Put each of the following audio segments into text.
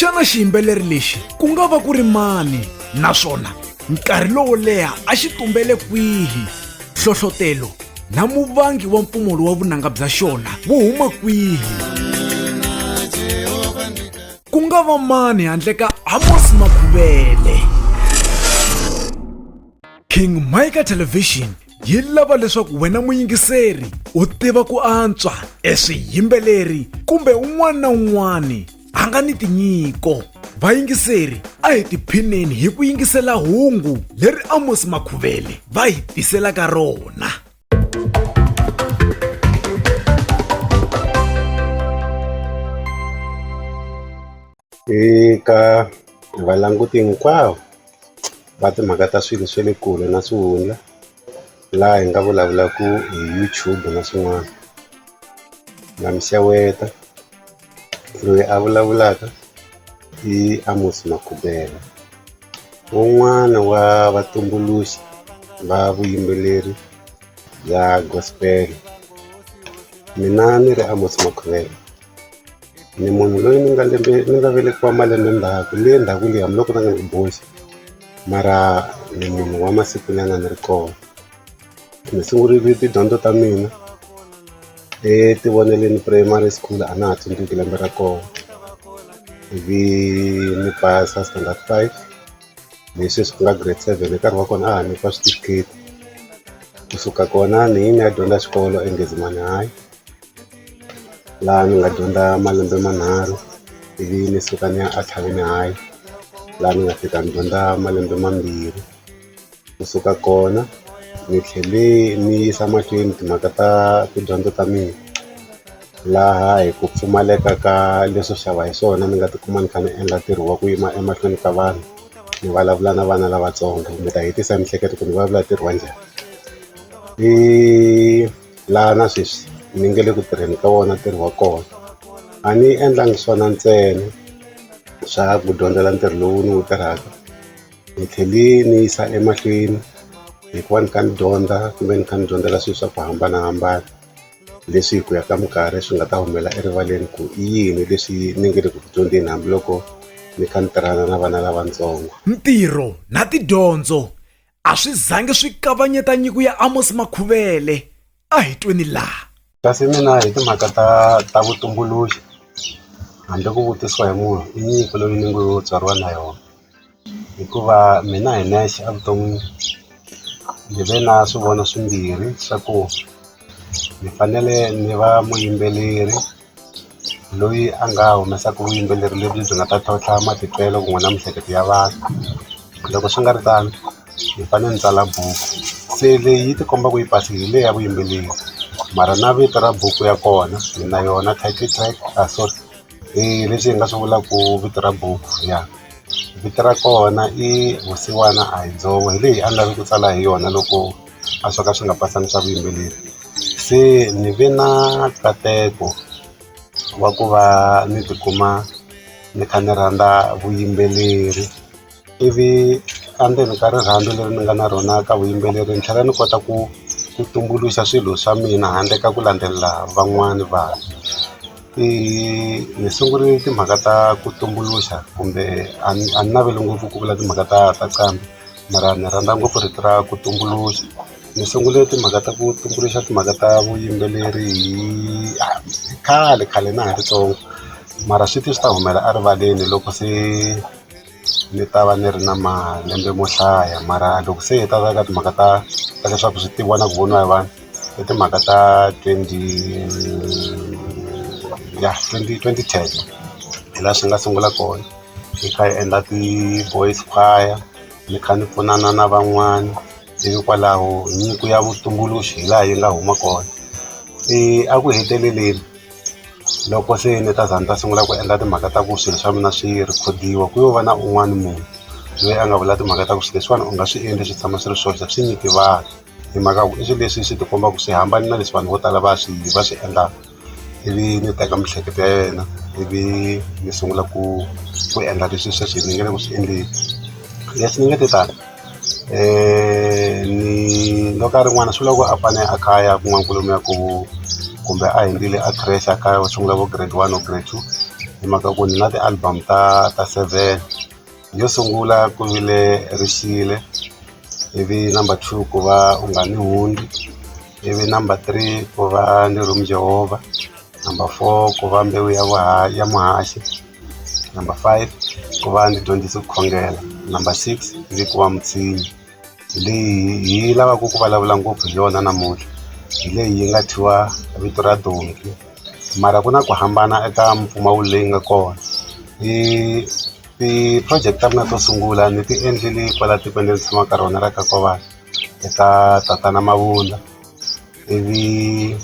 xana xiyimbeleri lexi ku nga va ku ri mani naswona nkarhi lowo leha a xi tumbele kwihi hlohlotelo na muvangi wa mpfumolo wa vunanga bya xona wu huma kwihi ku nga va mani handle ka amos makhuvele king mika television yi lava leswaku wena muyingiseri u tiva ku antswa eswiyimbeleri kumbe un'wana na un'wana a nga ni tinyiko vayingiseri a hi tiphineni hi ku yingisela hungu leri amos makhuvele va hi tiselaka rona eka valanguti hinkwavo va timhaka ta swilo swa le kule na swihundla laha hi nga vulavulaka hi YouTube na swin'wana na miseweta loyi a vulavulaka i Amos Makubela un'wana wa vatumbuluxi va vuyimbeleri bya gospel mina ni ri Amos Makubela ni munhu loyi ni nga lembe ni nga velekiwa malembe ndzhaku le ndzhaku liya hambiloko na nga ni boxi mara ni munhu wa masiku nyana ni ri kona Ni sungurile tidyondzo ta mina eTivoneleni Primary School a na ha tsundzuki lembe ra kona ivi ni pasa standard five hi sweswi ku nga grade seven hi nkarhi wa kona a ha nyikiwa switifikheti kusuka kona ni yi ni ya dyondza xikolo eNgezimani High laha ni nga dyondza malembe manharhu ivi ni suka ni ya a Tlhavini High laha ni nga fika ni dyondza malembe mambirhi. Ku suka kona ni tlhele ni yisa mahlweni timhaka ta tidyondzo ta mina laha hi ku pfumaleka ka leswo xava hi swona ni nga tikuma ni kha ni endla ntirho wa ku yima emahlweni ka vanhu ni vulavula na vana lavatsongo ni ta hetisa hi miehleketo ku ni vulavula ntirho wa njhani i laha na sweswi ni nge le ku tirheni ka wona ntirho wa kona a ni endlangi swona ntsena swa ku dyondzela ntirho lowu ni wu tirhaka. Ni tlhele ni yisa emahlweni hikuva ni kha ni dyondza kumbe ni kha ni dyondzela swilo swa ku hambanahambana leswi hi ku ya ka minkarhi swi nga ta humelela erivaleni ku i yini leswi ni nge le ku dyondzeni hambiloko ni kha ni tirhana na vana lavatsongo ntirho na tidyondzo a swi zangi swi kavanyeta nyiko ya Amos Makhuvele. a hi tweni laha kasi mina hi timhaka ta ta vutumbuluxi handle ku vutisiwa hi munhu i nyiko loyi ni ngo tswariwa na yona hikuva mina hi nexe evuton'wini ndzi ve na swivono swimbirhi swa ku ni fanele ni va muyimbeleri loyi a nga humesaka vuyimbeleri lebyi byi nga ta tlhontlha matitwelo ku n'we na miehleketo ya vanhu loko swi nga ri tano hi fanele ni tsala buku se leyi yi ti komba ku yi base hi leyi ya vuyimbeleri mara na vito ra buku ya kona ni na yona title track a sorry leswi hi nga swi vulaka ku vito ra buku ya vito ra kona i vusiwana a hi dzovo hi leyi a ni lava ku tsala hi yona loko a swo ka swi nga pasanisa vuyimbeleri se ni ve na nkateko wa ku va ni tikuma ni kha ni rhandza vuyimbeleri ivi endzeni ka rirhandzu leri ni nga na rona ka vuyimbeleri ni tlhela ni kota ku ku tumbuluxa swilo swa mina handle ka ku landzelela van'wani vanhu i ni sungule timhaka ta ku tumbuluxa kumbe a ni a ni naveli ngopfu ku vula timhaka ta ta nqambi. mara ni rhandza ngopfu rito ra ku tumbuluxa ni sungule timhaka ta ku tumbuluxa timhaka ta vuyimbeleri hi khale khale na ha ri ntsongo mara swi te swi ta humela erivaleni loko se ni ta va ni ri na malembe mo hlaya mara loko se hi ta ka timhaka ta ta leswaku swi tiviwa na ku voniwa hi vanhu i timhaka ta twenty ya twenty twenty ten hi laha swi nga sungula kona. hi kha hi endla ti-boys choir ni kha ni pfunana na van'wana ivi kwalaho nyiko ya vutumbuluxi hi laha yi nga huma kona se a ku heteleleni loko se ni ta za ni ta sungula ku endla timhaka ta ku swilo swa mina swi rhikhodiwa ku yo va na un'wana munhu loyi a nga vula timhaka ta ku swilo leswiwani u nga swi endli swi tshama swi ri swoxe swi nyiki vanhu. hi mhaka ku i swilo leswi swi ti kombaka swi hambane na leswi vanhu vo tala va swi va swi endlaka ivi ni teka miehleketo ya yena ivi ni sungula ku ku endla leswi sweswi ni nge le ku swi endleni leswi ni nge te tani ni loko a ri n'wana swi vula ku a fane a kha a ya kun'wana kwalomuya ku kumbe a hundzile a creche a kha a sungula vo grade one or grade two hi mhaka ku ni na ti-album ta ta seven. Yo sungula ku vile Rishile ivi number two ku va u nga ni hundzi ivi number three ku va ni room Jehovah number four ku va mbewu ya vuhaxi ya muhaxi number five ku va ndzi dyondzise ku khongela number six ndzi ku va mutshinyi hi leyi hi lavaka ku vulavula ngopfu hi yona namuntlha hi leyi yi nga thyiwa vito ra donki mara ku na ku hambana eka mpfumawulo leyi nga kona i Ti-project ta mina to sungula ni ti endlele kwala tikweni leri ni tshamaka ka rona ra ka Nkovana eka tatana Mabunda ivi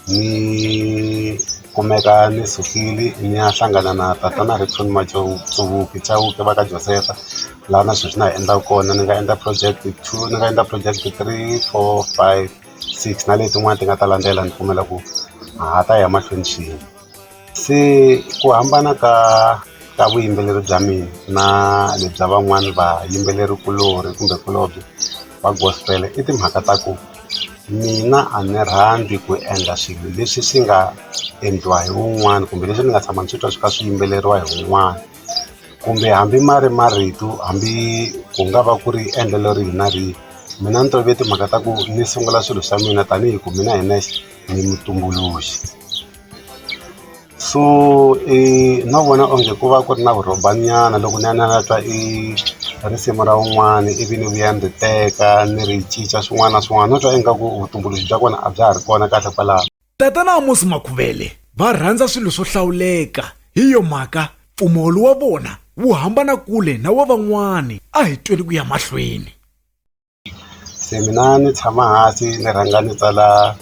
ni kumeka ni sukile ni ya hlangana na tatana Rickson Chauke Chauke va ka Josefa laha na sweswi na ha endlaka kona ni nga endla project two ni nga endla project three four five six na letin'wana ti nga ta landzela ni pfumela ku ha ta ya mahlweni swin'we. se ku hambana ka ka vuyimbeleri bya mina na le bya van'wani vayimbeleri kuloni kumbe kulobye va gospel i timhaka ta ku mina a ni rhandzi ku endla swilo leswi swi nga endliwa hi wun'wani kumbe leswi ni nga tshama ni swi twa swi kha swi yimbeleriwa hi wun'wani kumbe hambi ma ri marito hambi ku nga va ku ri endlelo rihi na rihi mina ni tove timhaka ta ku ni sungula swilo swa mina tanihi ku mina hi nexe ni mutumbuluxi. so i no vona onge ku va ku ri na vurhombanyana loko ni ya ni ya ni ya twa i risimu ra wun'wani ivi ni vuya ni ri teka ni ri cinca swin'wana na swin'wana no twa ingaku vutumbuluxi bya kona a bya ha ri kona kahle kwalaho Tatana Amos Makhuvele va rhandza swilo swo hlawuleka, hi yo mhaka mpfumawulo wa vona wu hambana kule na wa van'wana. A hi tweni ku ya mahlweni. se mina ni tshama hansi ni rhanga ni tsala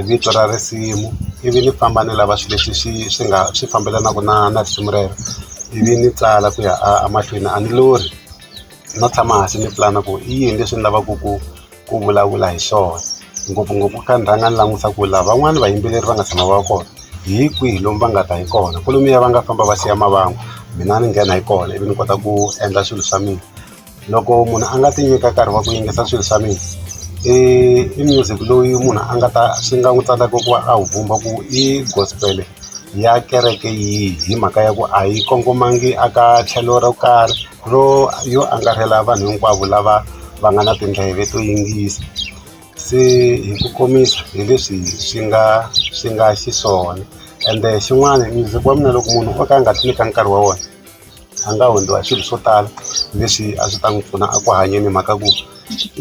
vito ra risimu ivi ni famba ni lava swilo leswi swi swi nga swi fambelanaka na na risimu rero ivi ni tsala ku ya a mahlweni a ni lorhi no tshama hansi ni pulana ku i yini leswi ni lavaka ku ku vulavula hi swona ngopfungopfu kha ni rhanga ni langutisa ku lava van'wani vayimbeleri va nga tshama va kona hi kwihi lomu va nga ta hi kona kwalomuya va nga famba va siya mavangwa mina ni nghena hi kona ivi ni kota ku endla swilo swa mina. loko munhu a nga ti nyika nkarhi wa ku yingisa swilo swa mina i i music loyi munhu a nga ta swi nga n'wi tsandza ku va a wu vumba ku i gospel ya kereke yihi hi mhaka ya ku a yi kongomangi a ka tlhelo ro karhi ro yo angarhela vanhu hinkwavo lava va nga na tindleve to yingisa se hi ku komisa hi leswi swi nga swi nga xiswona ende xin'wana music wa mina loko munhu o ka a nga ti nyika nkarhi wa wona. a nga hundziwa hi swilo swo tala leswi a swi ta n'wi pfuna a ku hanyeni hi mhaka ku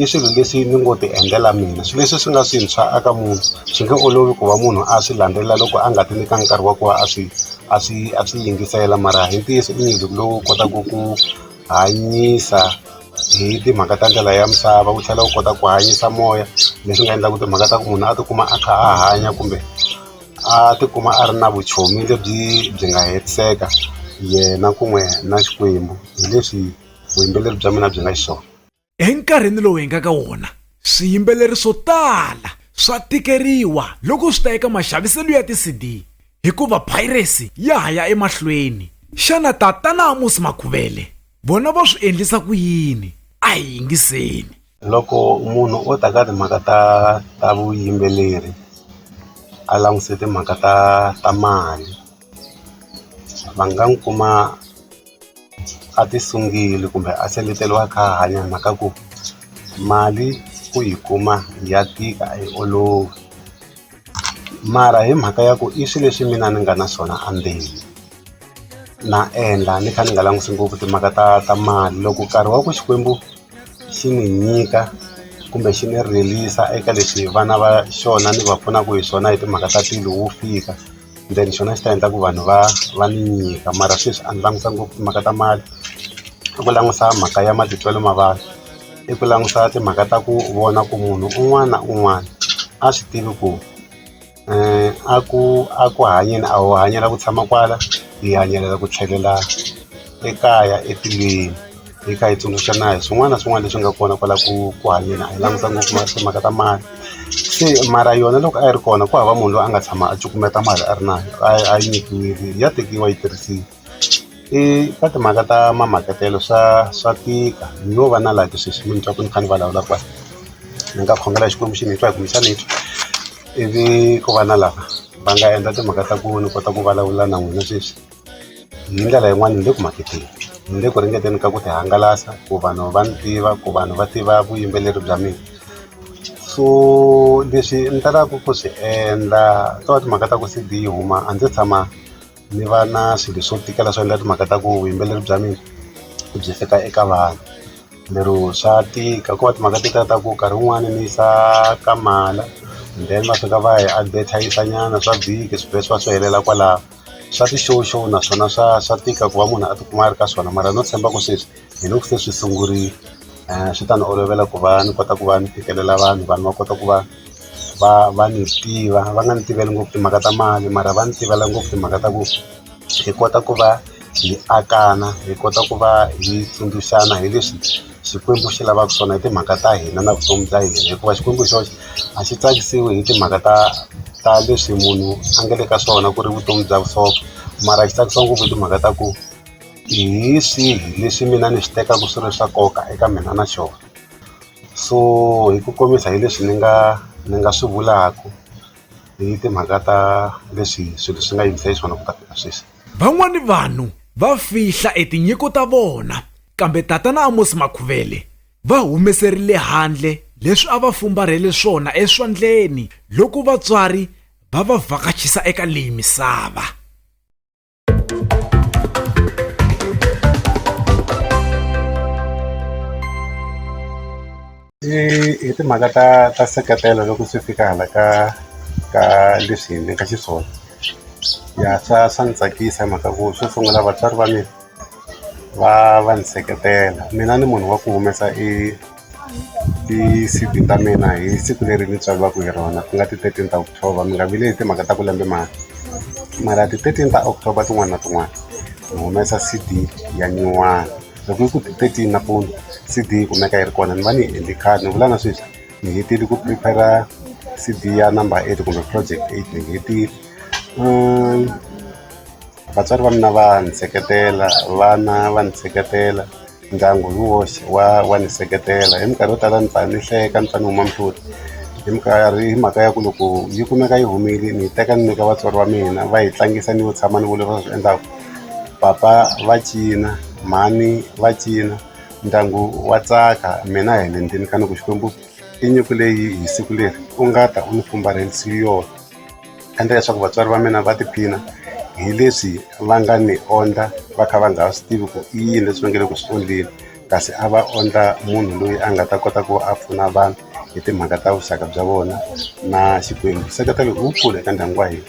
i swilo leswi ni ngo ti endlela mina swilo leswi swi nga swintshwa a ka munhu swi nge olovi ku va munhu a swi landzelela loko a nga ti nyikanga nkarhi wa ku va a swi a swi a swi yingisela mara hi ntiyiso i music lowu kotaka ku hanyisa hi timhaka ta ndlela ya misava wu tlhela wu kota ku hanyisa moya leswi nga endlaka timhaka ta ku munhu a tikuma a kha a hanya kumbe. a ti kuma a ri na vuchomi lebyi byi nga hetiseka yena ku n'we na Xikwembu hi leswi vuyimbeleri bya mina byi nga xiswona. Enkarhini lowu hi nga ka wona, swiyimbeleri swo tala swa tikeriwa loko swi ta eka maxaviselo ya ti-CD hikuva piracy ya ha ya emahlweni. Xana Tatana Amos Makhuvele vona va swi endlisa ku yini? A hi yingiseni. Loko munhu o ta ka timhaka ta ta vuyimbeleri a langutise timhaka ta ta mali va nga n'wi kuma a ti sungile kumbe a seleteliwa a kha a hanya hi mhaka ku mali ku yi kuma ya tika a yi olovi. mara hi mhaka ya ku i swilo leswi mina ni nga na swona a ndzeni na endla ni kha ni nga langutisi ngopfu timhaka ta ta mali loko nkarhi wa ku Xikwembu xi ni nyika kumbe xi ni rilisa eka leswi vana va xona ni va pfunaka hi swona hi timhaka ta tilo wu fika. then xona xi ta endla ku vanhu va va ni nyika mara sweswi a ni languta ngopfu timhaka ta mali i ku langusa mhaka ya matitwelo ma vanhu i ku langusa timhaka ta ku vona ku munhu un'wana na un'wana a swi tivi ku a ku a ku hanyeni a ho hanyela ku tshama kwala hi hanyelela ku tlhelela ekaya etilweni. Yi kha yi tsundzuxa na hi swin'wana na swin'wana leswi nga kona kwala ku ku hanyeni a hi languta ngopfu mara timhaka ta mali se mara yona loko a yi ri kona ku hava munhu loyi a nga tshama a cukumeta mali a ri na a yi a yi nyikiwile ya tekiwa yi tirhisiwa i ka timhaka ta ma makatelo swa swa tika no va na laha sweswi mi ni twa ku ni kha ni vulavula kwala ni nga khongela Xikwembu xi ni twa hi ku ni tshama ni twa ivi ko va na lava va nga endla timhaka ta ku ni kota ku vulavula na n'wina sweswi. hi ndlela yin'wani ni le ku maketeni ni le ku ringeteni ka ku ti hangalasa ku vanhu va ni tiva ku vanhu va tiva vuyimbeleri bya mina so leswi ni talaka ku swi endla to va timhaka ta ku C_D yi huma a ndzi se tshama ni va na swilo swo tikela swo endla timhaka ta ku vuyimbeleri bya mina byi fika eka vanhu lero swa tika ko va timhaka to ta ku nkarhi wun'wani ni yisa ka mala then va fika va hi advertiser nyana swa vhiki swi vhela swi va swi helela kwalaho. swa ti show show naswona swa swa tika ku va munhu a tikuma a ri ka swona mara no tshemba ku sweswi hi loko se swi sungurile swi ta ni olovela ku va ni kota ku va ni fikelela vanhu vanhu va kota ku va va va ni tiva va nga ni tiveli ngopfu timhaka ta mali mara va ni tivela ngopfu timhaka ta ku hi kota ku va hi akana hi kota ku va hi tsundzuxana hi leswi. Xikwembu xi lavaka swona i timhaka ta hina na vutomi bya hina hikuva Xikwembu hi xoxe a xi tsakisiwi hi timhaka ta ta leswi munhu a nga le ka swona ku ri vutomi bya vusopfa mara xi tsakisa ngopfu hi timhaka ta ku hi swihi leswi mina ni swi tekaka swi ri swa nkoka eka mina na xona so hi ku komisa hi leswi ni nga ni nga swi vulaka hi timhaka ta leswi swilo swi nga yimisa xiswona ku ta fika sweswi van'wani vanhu va fihla e tinyiko ta vona kambe tatana Amos Makhuvele va humeserile handle leswi a va fumbarhele swona eswandleni loko vatswari va va vhakachisa eka leyi misava I i timhaka ta ta seketela loko swi fika hala ka ka leswi hi endleke xiswona ya swa swa ndzi tsakisa hi mhaka ku xo sungula vatswari va mina va va ndzi seketela mina ni munhu wa ku humesa i i siku ta mina hi siku leri ni tswariwaka hi rona ku nga ti thirteen ta october mi nga vileli hi timhaka ta ku lembe mara mara ti thirteen ta october tin'wana na tin'wana ni humesa C_D ya nyuwana. Loko yi ku thirteen nampundzu C_D yi kumeka yi ri kona ni va ni yi endle khale ni vula na sweswi ni hetile ku prepare-ra C_D ya number eight kumbe project eight ni yi hetile vatswari va mina va ni seketela vana va ni seketela ndyangu hi woxe wa wa ni seketela hi minkarhi yo tala ni pfa ni hleka ni pfa ni huma mihloti hi minkarhi hi mhaka ya ku loko yi kumeka yi humile ni yi teka ni nyika vatswari va mina va yi tlangisa ni yo tshama ni vona leswi va swi endlaka. papa va cina mhani va cina ndyangu wa tsaka mina hi le ndzeni ka ni ku Xikwembu i nyiko leyi hi siku leri u nga ta u ni fumbarhelisi yona endla leswaku vatswari va mina va tiphina hi leswi va nga ni ondla va kha va nga ha swi tivi ku i yini leswi va nge le ku swi endleni kasi a va ondla munhu loyi a nga ta kota ku a pfuna vanhu hi timhaka ta vuxaka bya vona na Xikwembu nseketelo i wukulu eka ndyangu wa hina.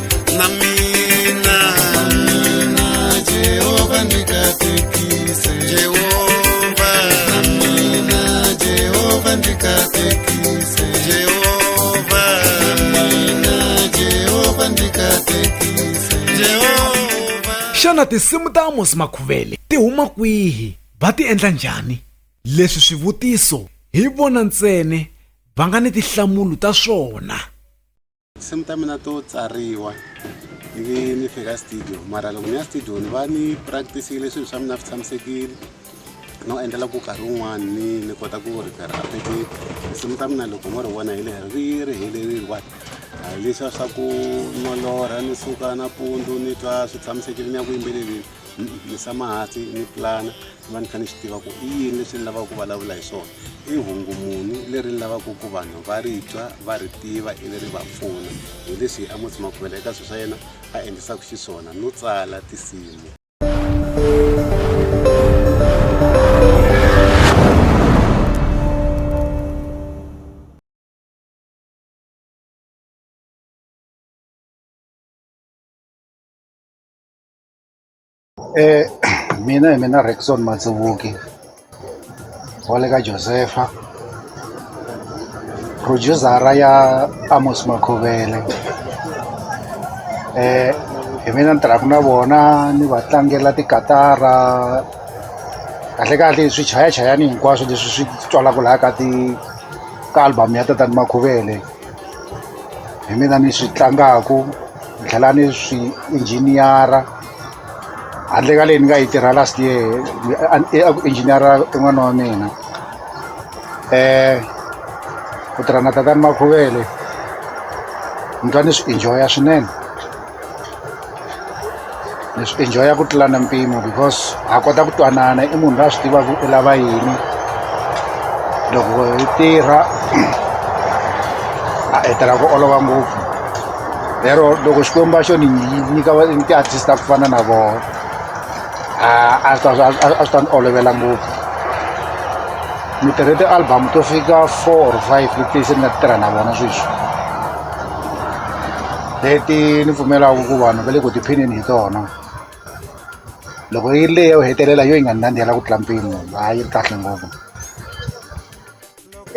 na mina mina jehova ndikatekise jehova na mina jehova ndikatekise jehova na mina jehova ndikatekise jehova xana tinsimu ta amosi makhuvele ti huma kwihi va ti endla njhani leswi swivutiso hi vona ntsene va nga ni tihlamulo ta swona tinsimu ta mina to tsariwa ni nge ni fika studio mara loko ni ya studio ni va ni practice-ile swilo swa mina swi tshamisekile no endlela ku karhi wun'wani ni ni kota ku ripera apete tinsimu ta mina loko mo ri vona hi leri ri ri helerile wa leswiya swa ku nolorha ni suka nampundzu ni twa swi tshamisekile ni ya ku yimbeleleni ni tshama hansi ni pulana ni va ni kha ni swi tiva ku i yini leswi ni lavaka ku vulavula hi swona i hungu muni leri ni lavaka ku vanhu va ri twa va ri tiva ivi ri va pfuna hi leswi a mutsi makhuvela eka swilo swa yena a endlisaka xiswona no tsala tinsimu Eh mina hi mina Rackson Matsuvuki wa le ka Josefa producer-a ya Amos Makhuvele eh hi mina ni tirhaka na vona ni va tlangela tikatara kahlekahle swichayachayani hinkwaswo leswi swi twalaka laha ka ti ka album ya tatana Makhuvele. hi mina ni swi tlangaku ni tlhela ni swi injiniyara handle ka leyi ni nga yi tirha last year a ku injiniyara i n'wana wa mina um ku tirha na tatani makhuvele ni twa ni swi enjoy-a swinene ni swi enjoya ku tlula na mpimo because ha kota ku twanana i munhu la swi tivaka u lava yini loko hi tirha a hetela ku olova ngopfu lero loko xikwembu va xo ni nyika ni ti-artist ta ku fana na vona a swi ta ni olovela ngopfu ni tirhe ti-album to fika four or five leti se ni nga ti tirha na vona sweswi leti ni pfumelaka ku vanhu va le ku tiphineni hi tona loko yi ri leyi yo hetelela yo yi nga ni nandzihela ku tlula mpimo ha yi ri kahle ngopfu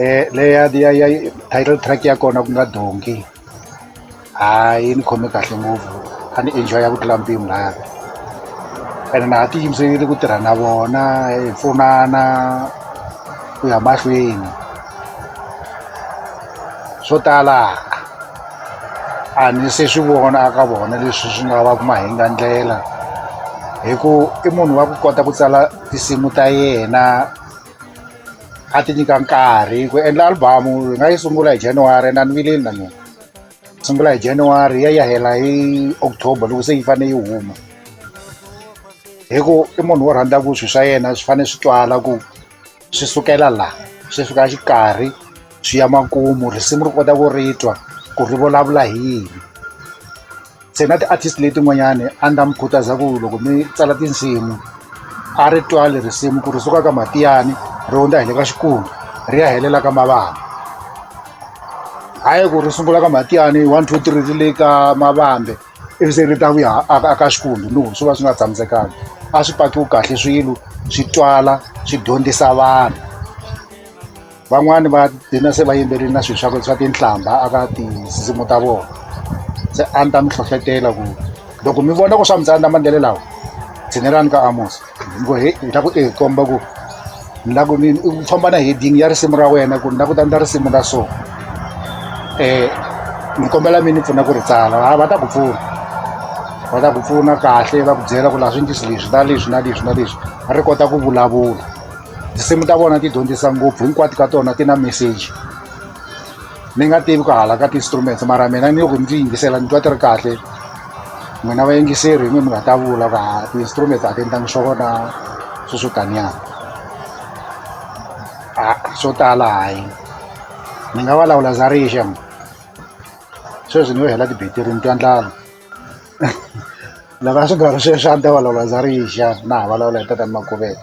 um leya ya ya title track ya kona ku nga donki ha yi ni khome kahle ngopfu a ni enjoy ya ku tlula mpimo laya ene na ha ti yimiserile ku tirha na vona hi pfunana ku ya mahlweni swo tala A ni se swi vona a ka vona leswi swi nga va ku mahingandlela hi ku i munhu wa ku kota ku tsala tinsimu ta yena a ti nyika nkarhi ku endla album hi nga yi sungula hi January na ni vileli na mina sungula hi January ya ya hela hi October loko se yi fanele yi huma hi ku i munhu wo rhandza ku swi swa yena swi fanele swi twala ku swi sukela laha swi fika xikarhi swi ya makumu risimu ri kota ku ri twa ku ri vulavula hi yini se na ti-artist letin'wanyani a ni ta mi khutaza ku loko mi tsala tinsimu a ri twali risimu ku ri suka ka matiyani ri hundza hi le ka xikungu ri ya helela ka mavana hayi ku ri sungula ka matiyani one two three ri le ka mavambe ivi se ri ta vuya a ka xikwembu no swi va swi nga tshamisekanga a swi pakiwi kahle swilo swi twala swi dyondzisa vanhu van'wani va dina se va yimberile na swilo swa swa tinhlamba a ka tinsimu ta vona se a ni ta mi hlohlotela ku loko mi vona ku swa mi tsandza mandlele lawa tshinelani ka amosa Ngo he ni lava ku i hi komba ku ni lava ku ni u famba na heading ya risimu ra wena ku ni lava ku ta endla risimu ra so ni kombela mi ni pfuna ku ri tsala ha va ta ku pfuna va ta ku pfuna kahle va ku byela ku laha swi ndlisi leswi na leswi na leswi na leswi ri kota ku vulavula tinsimu ta vona ti dyondzisa ngopfu hinkwato ka tona ti na message. ni nga tivi ku hala ka ti-instruments mara mina ni ku ni ti yingisela ni twa ti ri kahle n'wina vayingiseri hi n'wi mi nga ta vula ku ha ti-instruments a ti endlangi swo vona swo swo taniana a swo tala hayi ni nga vulavula za rixa sweswi ni yo hela tibetiri ni twa ndlala lava swi nga ri sweswi a ni ta vulavula za rixa na ha vulavula hi tatani makuvela